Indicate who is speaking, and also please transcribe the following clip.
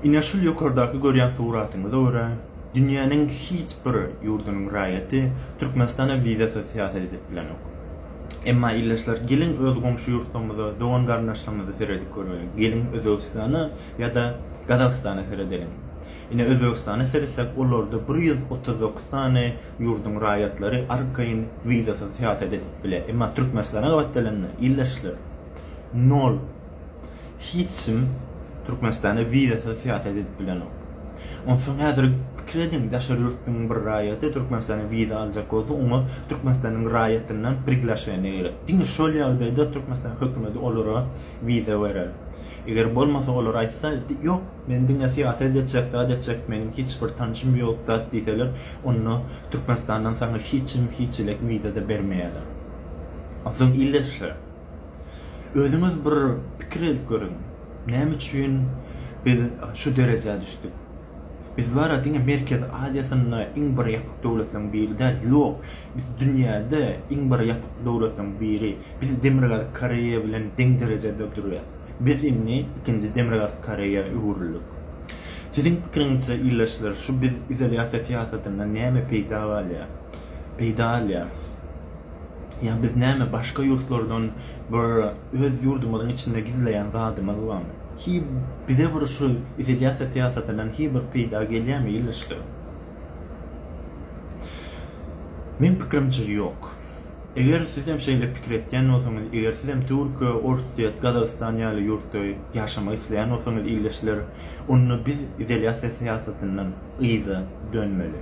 Speaker 1: Ine şul ýokardaky görýän suratyňyza görä, dünýäniň hiç bir ýurdunyň raýaty Türkmenistana wizasyz syýahat edip bilenok. Emma ildeşler geliň öz goňşy ýurtlarymyza, dogan-garyndaşlarymyza seredip göreliň. Geliň Özbegistana ýa-da Gazagystana seredeliň. Ine Özbegistana seretsek olarda bir ýüz otuz dokuz sany ýurduň raýatlary arkaýyn wizasyz syýahat edip bile. Emma Türkmenistana gabat gelende ildeşler nol. Hiç kim Türkmenistana wizasyz syýahat edip bilenok. Onsoň häzir pikir ediň, daşary ýurtlyň bir raýaty Türkmenistana wiza aljak bolsa, oňa Türkmenistanyň raýatyndan priglasheniýe gerek. Diňe şol ýagdaýda Türkmenistanyň hökümeti olara wiza berer. Eger bolmasa, olar aýtsa, Ýok, men diňe syýahat etjek, zat etjek, meniň hiç bir tanşym ýok, zat diýseler, onda Türkmenistandan saňa hiç kim, hiç elek wiza-da bermeýärler. Onsoň ildeşler! Özüňiz bir pikir edip görüň, näme üçin biz şu derejä düşdük? Biz bara diňe Merkezi Aziýasynda iň bir ýapyk döwletleriň biri däl, ýok, biz dünýäde iň bir ýapyk döwletleriň biri. Biz Demirgazyk Koreýa bilen deň derejede durýas. Biz indi ikinji Demirgazyk Koreýa öwrüldik. Siziň pikiriňizçe, ildeşler, şu biz izolýasiýa syýasatyndan näme peýda alýar, peýda alýarys? Ýa biz näme başga ýurtlardan bir öz ýurdumyzyň içinde gizleýän zadymyz barmy? Hi bize bir şu izolýasiýa syýasatyndan hi bir peýda gelýärmi ildeşler? Meň pikirimçe ýok. Eger siz hem şeýle pikir etýän bolsaňyz, eger siz hem Türkiýe, Orsýet, Gazagystan ýaly ýurtda ýaşamak isleýän bolsaňyz ildeşler, onda biz izolýasiýa syýasatyndan yza dönmeli.